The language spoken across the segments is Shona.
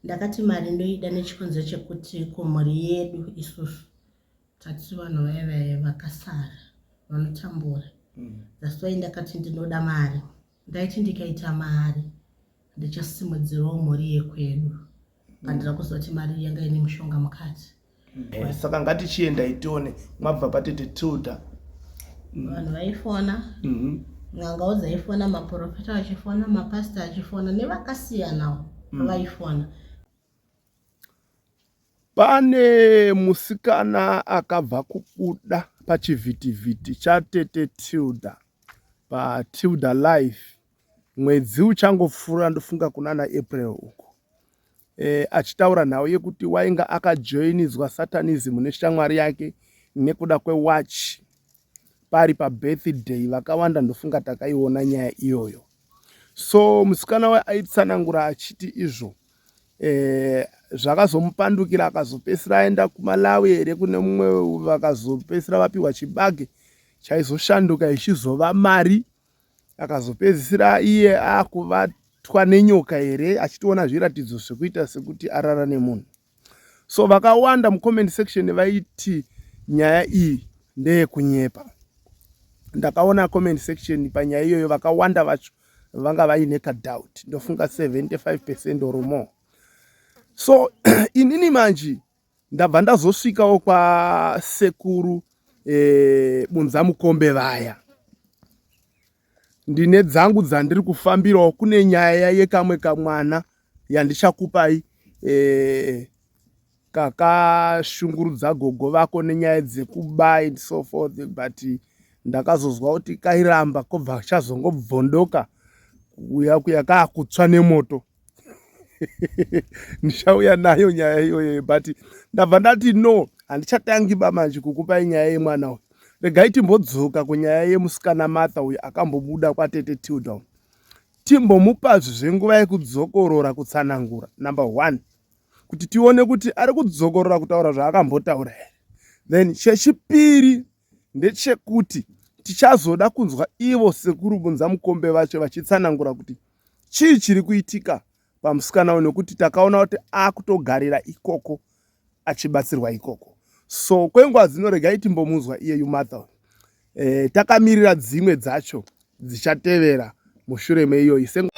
Ndakati mari ndoida nechikonzo chekuti kumhuri yedu isusu tati vanhu vaive vakasara vanotambura mm. that's why ndakati ndinoda mari ndaiti ndikaita mari ndichasimudzirawo mhuri yekwedu pandira kuzoti mari yanga ine mushonga mukati Eh, saka ngatichiendai tione mabva patete tilda mm. vanhu vaifona mhm. n'angao dzaifona maprofeta achifona mapasta achifona nevakasiyanawo mm. vaifona pane musikana akabva kubuda pachivhitivhiti chatete tilda patilda life Mwedzi uchangopfuura ndofunga kunana April uko e, achitaura nhau yekuti wainga akajoinidzwa satanism neshamwari yake nekuda kwewatch pari pabirthday vakawanda ndofunga takaiona nyaya iyoyo so musikana waye aitsanangura achiti izvo eh, zvakazomupandukira akazopesira aenda kumalawi here kune mumwe vakazopesira vapiwa chibage chaizoshanduka ichizova mari akazopedzisira iye akubatwa nenyoka here achitoona zviratidzo zvekuita sekuti arara nemunhu so vakawanda mucomment section vaiti nyaya iyi ndeyekunyepa ndakaona comment section panyaya iyoyo vakawanda vacho vanga vaine kadoubt ndofunga 75 percent or more so inini manji ndabva ndazosvikawo kwasekuru e, bunza mukombe vaya ndine dzangu dzandiri kufambirawo kune nyaya yekamwe kamwana yandichakupai e, kakashungurudza gogo vako nenyaya dzekubai and so forth but ndakazozwa kuti kairamba kobva chazongobvondoka kuya kuya kaakutswa nemoto ndichauya nayo nyaya iyoyo but ndabva ndati no handichatangi ba manje kukupai nyaya yemwana uyu regai timbodzoka kunyaya yemusikana martha uyu akambobuda kwatete tildown timbomupazvi zvenguva yekudzokorora kutsanangura number one kuti tione kuti ari kudzokorora kutaura zvaakambotaura here then chechipiri ndechekuti tichazoda kunzwa ivo sekuru bunza mukombe vacho vachitsanangura kuti chii chiri kuitika pamusikana uyu nekuti takaona kuti akutogarira ikoko achibatsirwa ikoko so kwenguva dzino regai timbomunzwa iyeyu matha e, takamirira dzimwe dzacho dzichatevera mushure meiyoyi sengu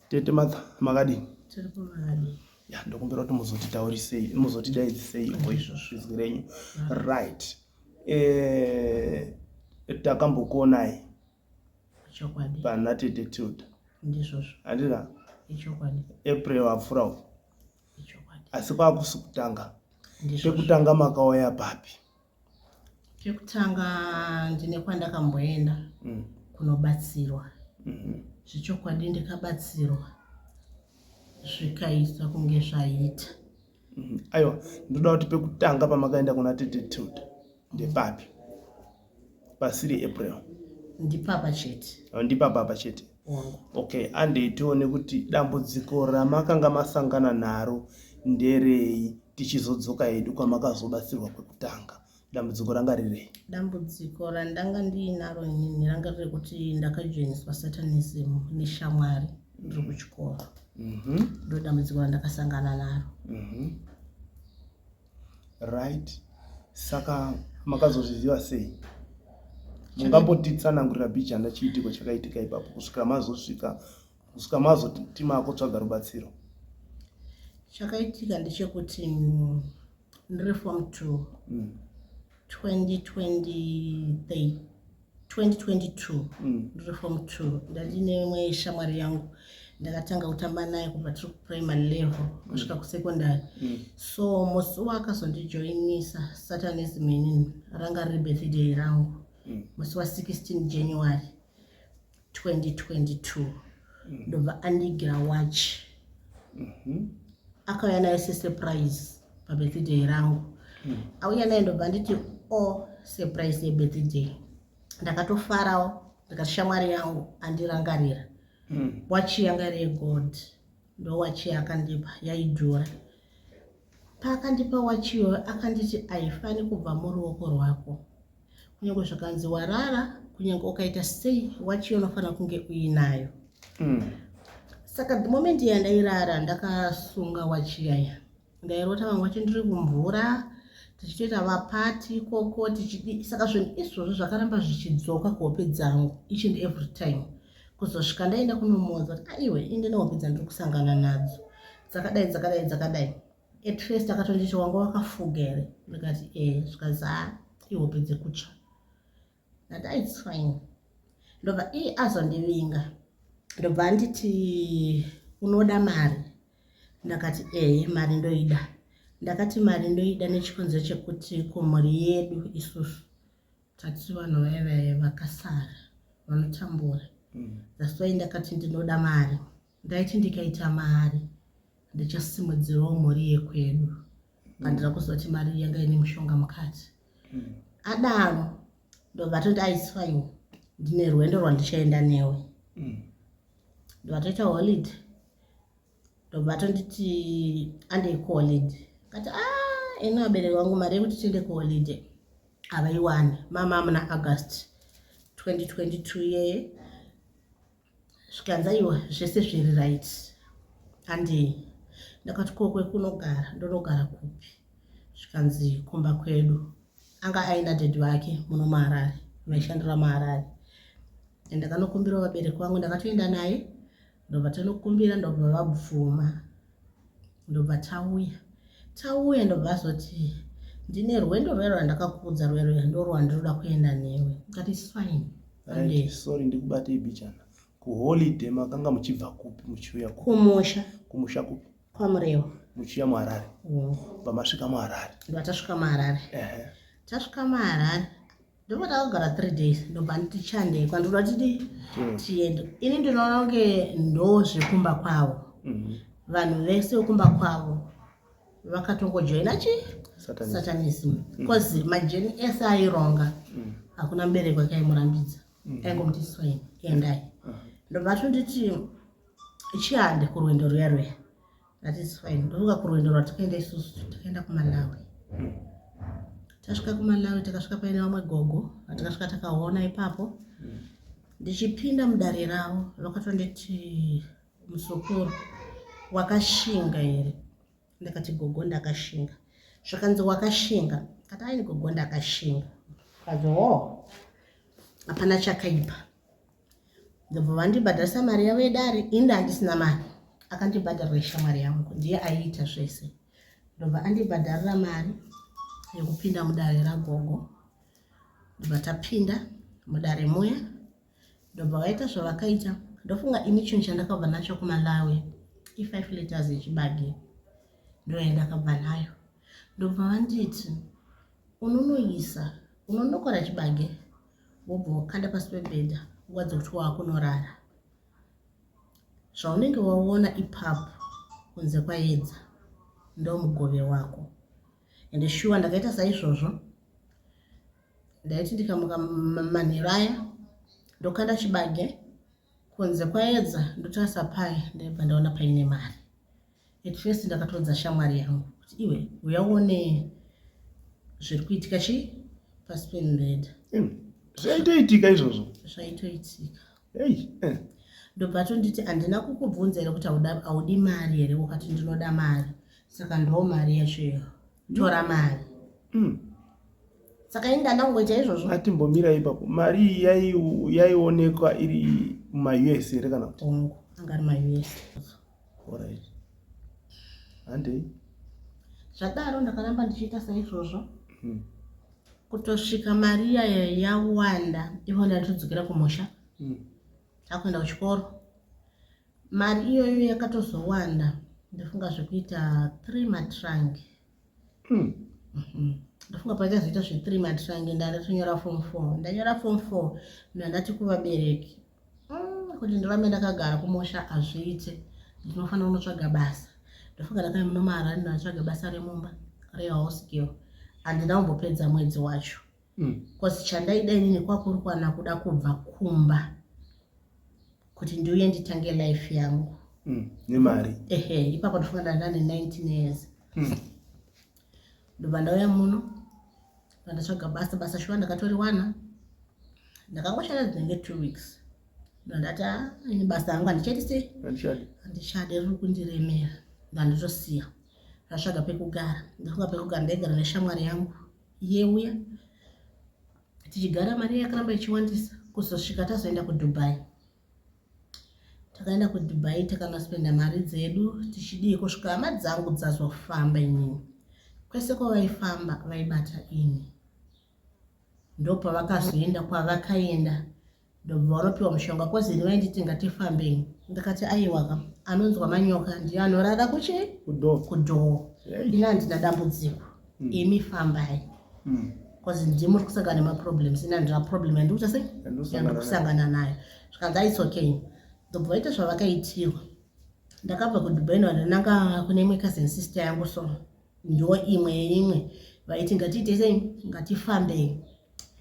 Tete Martha, makadini? Tiri kumari. Ya, ndokumbira kuti muzotitaurisei, muzotidaidzisei ivo izvozvo izwi renyu. Right. Eh, takambokuonai. Chokwadi. Pana Tete Tilda. Ndizvozvo. Handina? Ichokwadi. April apfura uko. Ichokwadi. Asi kwakusi kutanga. Ndizvozvo. Pekutanga makauya papi? Chekutanga ndine kwandakamboenda mm. kunobatsirwa mm-hmm. zvechokwadi ndikabatsirwa zvikaita kunge zvaita mm-hmm. aiwa ndoda kuti pekutanga pamakaenda kuna tete tilda ndepapi pasiri april ndipapa chete ndipapa apa chete wangu okay andei tione kuti dambudziko ramakanga masangana naro nderei tichizodzoka hedu kwamakazobatsirwa kwekutanga dambudziko ranga rirei dambudziko randanga ndiinaro inini ranga riri kuti ndakajoiniswa satanism neshamwari ndiri kuchikoro mhm. ndo dambudziko randakasangana naro mhm. right saka makazozviziva sei mungambotitsanangurira bijana chiitiko chakaitika ipapo kusvika mazosvika kusvika mazoti makotsvaga rubatsiro chakaitika ndechekuti ndiri form two mm. 2023 2022 ndiri form 2 ndandine imwe shamwari yangu ndakatanga kutamba naye kubva tiri kuprimary level kusvika mm. kusecondary mm. so musi wakazondijoinisa satanism inini ranga riri birthday rangu mm. musi wa16 january 2022 ndobva andigira watch mhm. akauya nayo sesurprise pabirthday rangu mm. auya nayo ndobva anditi o surprise yebirthday ndakatofarawo ndikati shamwari yangu andirangarira mm. wachi yanga iri yegold ndo wachi yaakandipa yaidhura paakandipa wachi iyoyo akanditi aifani kubva muruoko rwako Kunyange zvakanzi warara, kunyange ukaita sei, wachi unofanira kunge uinayo. Mm. Saka the moment yandairara ndakasunga wachi yaya. Ndairota vamwe wachi ndiri kumvura tichitoita vapati ikoko tichidi saka zvinhu izvozvo zvakaramba zvichidzoka kuhope dzangu each and every time kuzosvika ndaenda kunomuudza kuti aiwe inde nehope dzandiri kusangana nadzo dzakadai dzakadai dzakadai At first akatonditi wanga wakafuga here ndikati e eh, zvikanzi ha ihope dzekutya ndati ah, its fine ndobva i azondivinga ndobva anditi unoda mari ndakati ee eh, mari ndoida ndakati mari ndoida nechikonzero chekuti kumhuri yedu isusu tati vanhu vaive vakasara vanotambura mm. that's why ndakati ndinoda mari Ndaiti ndikaita mari ndichasimudzirawo mhuri yekwedu pandira kuziva kuti mari yanga ine mushonga mukati hmm. adaro ndovatoti aisfain ndine rwendo rwandichaenda newe hmm. ndovatoita holid ndovatonditi andei kuholid kati a ah, ino abereki wangu mari yekuti tiende kuholid havaiwani mama muna august 2022 yeye zvikanzi aiwa zvese zviri right handi ndakati ko kwekunogara ndonogara kupi zvikanzi kumba kwedu anga aina dedi vake muno maharare vaishandira maharare and ndakanokumbirawo vabereki vangu ndakatoenda naye ndobva tanokumbira ndobva vabvuma ndobva tauya tauya ndobva azoti ndine rwendo rwuya rwandakakuudza rwuya rwuya ndorwandinoda kuenda newe ndikati fine sorry ndikubatei bichana kuholiday makanga muchibva kupi muchiuya kumusha kumusha kupi kwamurewa muchiuya muharare mm. pamasvika muharare ndova tasvika muharare tasvika muharare ndobva takagara three days ndobva nditi chandei kwandoda tidi hmm. tiende ini ndinoona kunge ndo zvekumba kwavo hmm. vanhu vese vekumba kwavo vakatongojoina chi satanism bcause hmm. majeni ese aironga hakuna mubereko akaimurambidza aingomuti swaini endai uh-huh. ndobva tonditi chiande kurwendo ruya ruya That is fine. Ndovuka kurwendo rwatakaenda isusu takaenda kumalawi tasvika kumalawi takasvika paine vamwe gogo vatakasvika takaona ipapo ndichipinda mudare ravo vakatonditi musokoro wakashinga here ndakati gogo ndakashinga zvakanzi wakashinga kati aini gogo ndakashinga kazi ho oh, hapana chakaipa ndobva vandibhadharisa mari yavo yedare inde handisina mari akandibhadharira ishamwari yangu ndiye aiita zvese ndobva andibhadharira mari yekupinda mudare ragogo ndobva tapinda mudare muya ndobva vaita zvavakaita ndofunga ini chinhu chandakabva nacho kumalawi i-five letters yechibagi ndoyandakabva nayo ndobva vanditi unonoisa unonokora chibage wobva wakanda pasi pebhedha nguva dzekuti waakunorara zvaunenge waona ipapo kunze kwaedza ndomugove wako ende shuwa ndakaita saizvozvo ndaiti ndikamuka manheru aya ndokanda chibage kunze kwaedza ndotarisa paye ndaibva ndaona paine mari At first ndakatoudza shamwari yangu kuti iwe uya uone zviri kuitika chii pasi pemubhedha zvaitoitika izvozvo zvaitoitika hey, eh. ndobva atonditi handina kukubvunza here kuti haudi mari here ukati ndinoda mari saka ndoo mari yacho iyo tora mari mm. saka ini ndandangoita izvozvo atimbomira ipapo mari yaionekwa iri mumaus here kana kuti angari maus Alright. Handei. Zvadaro ndakaramba ndichiita saizvozvo. Hmm. Kutosvika mari iya yawanda ivo ndatodzokera kumusha. Hmm. Takuenda kuchikoro. Mari iyoyo yakatozowanda ndofunga zvekuita 3 matrangi. mm. mm-hmm. ndafunga pachazoita zvethree months vange ndatonyora form four ndanyora form four ndandati kuvabereki mm, kuti ndirambe ndakagara kumusha hazviite ndinofanira kunotsvaga basa ndafunga ndakai muno maharani ndanotsvaga basa remumba rehouse girl handina kumbopedza mwedzi wacho bcause chandaida inini kwakurukwana kuda kubva kumba kuti ndiuye nditange life yangu mm, nemari ehe ipapo ndifunga ndanga ne 19 years mm. ndobva ndauya muno vandatsvaga basa basa shuwa ndakatoriwana ndakangoshanda dzinenge two weeks ndandati ah, ini basa yangu handichadi sei handichadi riri kundiremera ndanditosiya ndatsvaga pekugara ndafunga pekugara ndaigara neshamwari yangu yeuya tichigara mari yakaramba ichiwandisa kuzosvika tazoenda kudubai takaenda kudubai takanaspenda mari dzedu tichidii kusvika hama dzangu dzazofamba inini kwese kwavaifamba vaibata ini ndopavakazoenda kwavakaenda ndobva wanopiwa mushonga kozi ini vainditi tingati fambei ndikati aiwaka anonzwa manyoka ndiyo anorara kuchi kudhoo ini handina dambudziko hmm. imi fambai hmm. kozi ndii muri kusangana nemaproblems ini handina problem yandikuta sei yandiri kusangana nayo zvikanzi aits okay ndobva vaita zvavakaitirwa ndakabva kudubai no ndinanga kune imwe cousin sister yangu so Ndo imwe yeimwe vaiti ngatiitesei ngatifambei.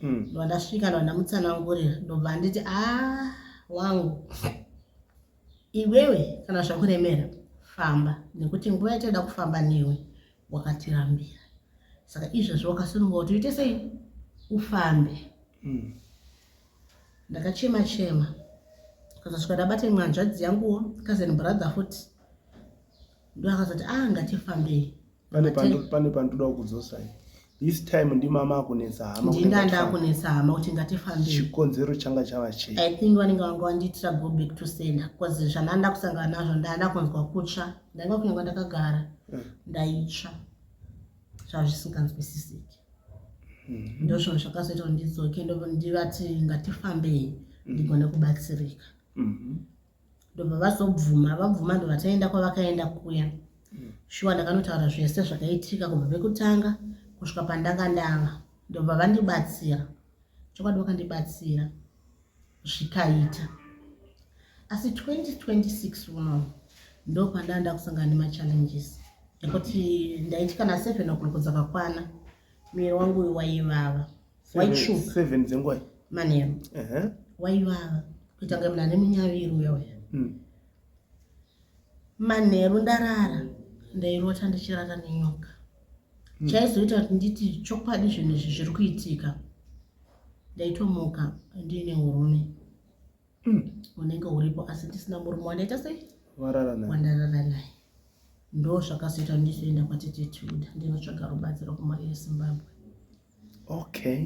Mm. Ndobva ndasvika ndobva ndamutsanangurira ndobva anditi a ah, wangu iwewe kana zvakuremera famba nekuti nguva yatinoda kufamba newe wakatirambira saka izvezvi wakasununguka kuti uite sei ufambe mm. ndakachema chema kazosvika ndabate mwanzvadzi yanguwo cousin brother futi ndovakazoti a ah, ngatifambei pane pandoda kudzosai this time ndimama akunetsa hama ndinda ndakunetsa hama kuti ngatifambei chikonzero changa chava chei i think vanenge vanga vandiitira go back to sender bcause zvananda kusangana nazvo ndaana kunzwa kutsva ndaiva kunyange ndakagara eh. ndaitsva zvava zvisinganzwisisiki hmm. ndozvinhu zvakazoita kuti ndidzoke ndivati ngatifambei ndigone kubatsirika mm-hmm. ndobva vazobvuma vabvuma ndobva taenda kwavakaenda kuya mm. shuwa ndakanotaura zvese zvakaitika kubva pekutanga kusvika pandanga ndava ndobva vandibatsira chokwadi vakandibatsira zvikaita asi 2026 uno ndopandanga ndakusangana nemachallenges ekuti ndaiti kana seven o'clock dzakakwana miri wangu waivawa white sugar seven dzengwai manheru waivava kuita kunge munhu ane munyaviri uya uya hmm. manheru ndarara ndairota ndichirara nenyoka hmm. chaizoita kuti nditi chokwadi zvinhu izvi zviri kuitika ndaitomuka ndiine urume hmm. unenge uripo asi ndisina murume wandaita sei wandarara naye ndo zvakazoita ndizoenda kwatete tuda ndinotsvaga rubatsiro kumari yezimbabwe Okay.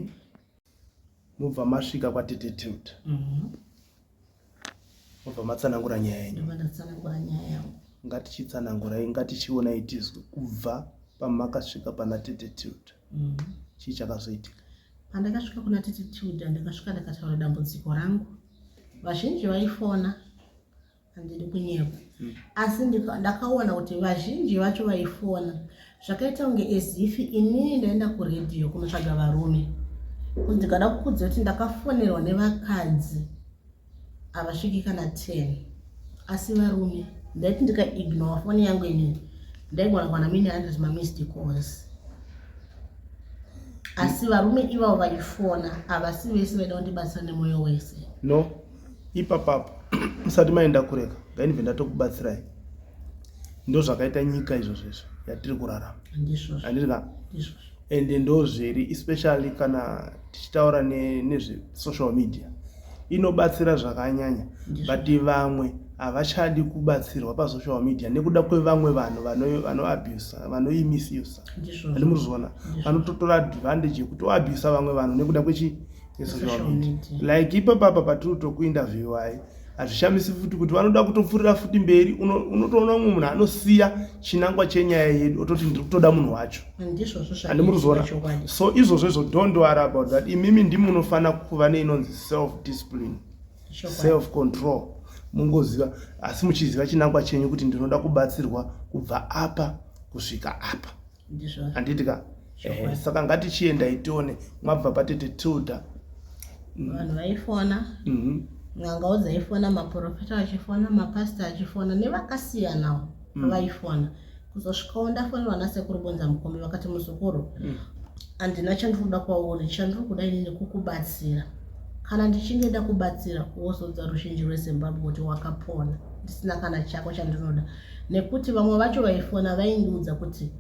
Mubva masvika kwatete Tilda. Mhm. Mubva matsanangura nyaya yenyu. Ndobva ndatsanangura nyaya yangu. Ngatichitsanangurai, ngatichionai tizwe kubva pamakasvika pana tete Tilda. Mhm. Chii chakazoitika? Pandakasvika kuna tete Tilda ndakasvika ndakataura dambudziko rangu. Vazhinji vaifona handidi kunyepa asi ndakaona kuti vazhinji vacho vaifona zvakaita kunge ezifi inini ndaenda kuredhiyo kunotsvaga varume kuti ndikada kukudza kuti ndakafonerwa nevakadzi havasviki kana ten asi varume ndaiti ndikaignore foni yangu inini ndaigona kuwana mine hundred mamist cause asi varume ivavo vaifona havasi vese vaida kundibatsira nemoyo wese no ipapapo musati maenda kureka ngainibve ndatokubatsirai ndo zvakaita nyika izvo zvizvo yatiri kurarama andirika ende ndo zviri especially kana tichitaura nezvesocial media inobatsira zvakanyanya but vamwe havachadi kubatsirwa pasocial media nekuda kwevamwe vanhu vanoabusa vanoimisusa andi muri zviona vanototora advantage yekuti oabusa vamwe vanhu nekuda kwechi esocial media like ipapapa patiri kutokuinterviewai hazvishamisi futi kuti vanoda kutopfurira futi mberi unotoona umwe munhu anosiya chinangwa chenyaya yedu ototi ndiri kutoda munhu wacho handi muri kuzoona so izvozvo izvo don't worry about that imimi ndimi munofanira kuva neinonzi self discipline self control mungoziva asi muchiziva chinangwa chenyu kuti ndinoda kubatsirwa kubva apa kusvika apa handiti ka eh, saka ngatichiendai tione mabva patete tilda mm. vanhu vaifona mhm. n'angao dzaifona maprofita achifona mapastor achifona nevakasiyanawo mm. vaifona kuzosvikawo ndafonerwa nasekuru bonza mukombe vakati muzukuru mm. handina chandiri kuda kwauri chandiri kuda ini nekukubatsira kana ndichinge ndakubatsira wozodza ruzhinji rwezimbabwe kuti wakapona ndisina kana chako chandinoda nekuti vamwe vacho vaifona vaindiudza kuti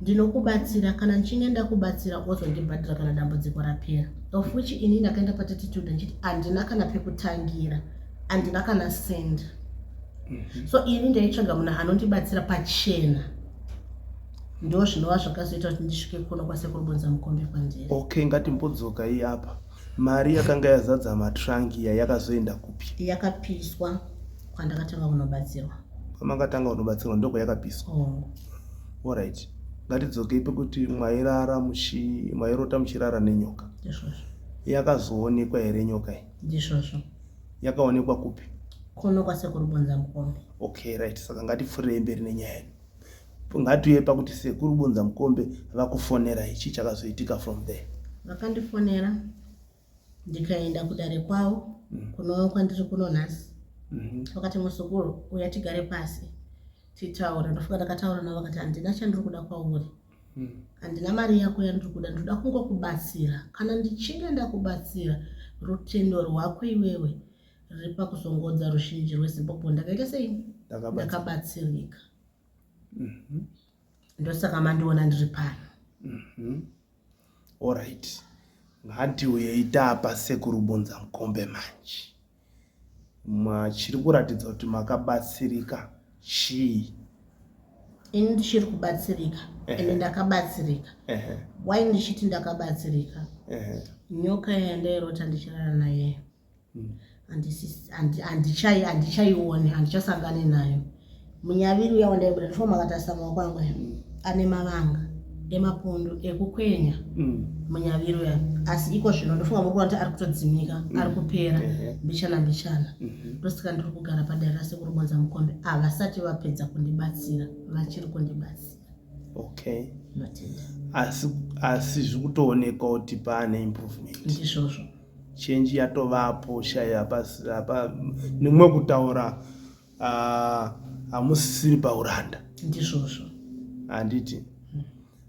ndinokubatsira kana ndichinge ndakubatsira ozondibhadhira kana dambudziko rapera of which ini ndakaenda patititude ndichiti handina kana pekutangira handina kana send mhm. so ini ndaitsvaga munhu anondibatsira pachena ndo zvinova zvakazoita kuti ndisvike kuno kwasekuru bonza mukombe kwandiri okay ngatimbodzoka iyapa Mari yakanga yazadza matrunk iya yakazoenda kupi? Yakapiswa kwandakatanga kunobatsirwa. Kwamakatanga kunobatsirwa ndoko yakapiswa. Oh. All right. Ngatidzokei pekuti mwairara muchi mwairota muchirara nenyoka. Ndizvozvo. Yakazoonekwa here nyoka iyi? Ndizvozvo. Yakaonekwa kupi? Kuno kwasekuru Bonza Mukombe. Okay, right. Saka ngatipfurei mberi nenyaya yedu. Ngatiuye pakuti sekuru Bunza Mukombe vakufonera ichi chakazoitika from there. Vakandifonera ndikaenda kudare kwavo mm. kuno kwandiri kuno nhasi mm-hmm. vakati muzukuru uya tigare pasi titaure ndofuka ndakataura navo vakati handina chandiri kuda kwauri mm. handina mari yako yandiri kuda ndinoda kungokubatsira kana ndichinge ndakubatsira rutendo rwako iwewe riri pakuzongodza ruzhinji rwezimbabwe ndakaita sei ndakabatsirika Mhm. ndosaka mandiona ndiri pano Mhm. Alright. Ngatiuyei tapa sekuru Bunza Mukombe manje. Machiri kuratidza kuti makabatsirika chii? ini ndichiri kubatsirika Ehe. ende ndakabatsirika Ehe. why ndichiti ndakabatsirika Ehe. nyoka yandairota ndichirara naye handichai handichaione handichasangane nayo munyaviri uya wandaibuda ndifo makatarisa maoko angu aya mm. ane mavanga emapundu ekukwenya mm. munyaviri uya asi iko zvino ndofunga muri kuona kuti ari kutodzimika mm. ari kupera mbichana mbichana mm-hmm. ndosika ndiri kugara padare rasekuru bonza mukombe havasati vapedza kundibatsira vachiri kundibatsira okay asi asi zviri kutoonekwa kuti paane improvement ndizvozvo change yatovapo shaya hapa hapa nimwe kutaura ah, hamusisiri uh, pauranda ndizvozvo handiti hmm.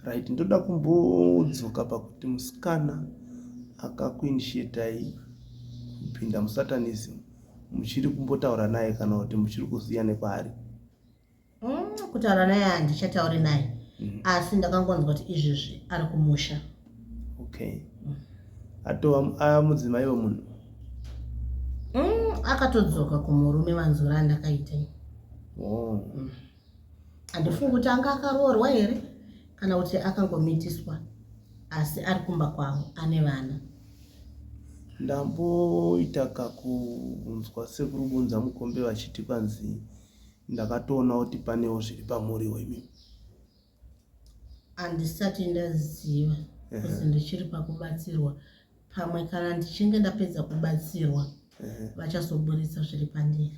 right ndoda kumbodzoka pakuti musikana akakuinishetai kupinda musatanism muchiri kumbotaura naye kana kuti muchiri kuziya nekwaari mm, kutaura naye handichatauri naye mm. asi ndakangonzwa kuti izvezvi ari kumusha okay mm. atova aya mudzimai wemunhu mm, akatodzoka kumurume vanzura andakaita oh. mm. handifungi kuti anga akaroorwa here kana kuti akangomitiswa asi ari kumba kwavo ane vana ndamboita kakunzwa sekuri kunza mukombe vachiti kwanzi ndakatoona kuti panewo zviri pamuriwo imi handisati ndaziva kuzi ndichiri pakubatsirwa pamwe kana ndichinge ndapedza kubatsirwa vachazoburitsa zviri pandiri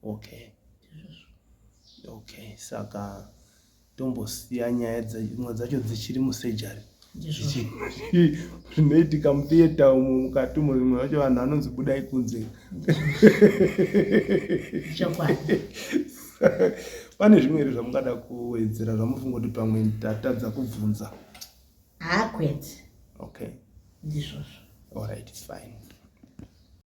okay okay saka tombosiya nyaya dzimwe dzacho dzichiri musejari zvinoitika mutheatre umo mukati umo zvimwe zvacho vanhu vanonzi budai kunze pane zvimwe here zvamungada kuwedzera zvamufunga kuti pamwe tatadza kubvunza hakwete okay ndizvozvo alright fine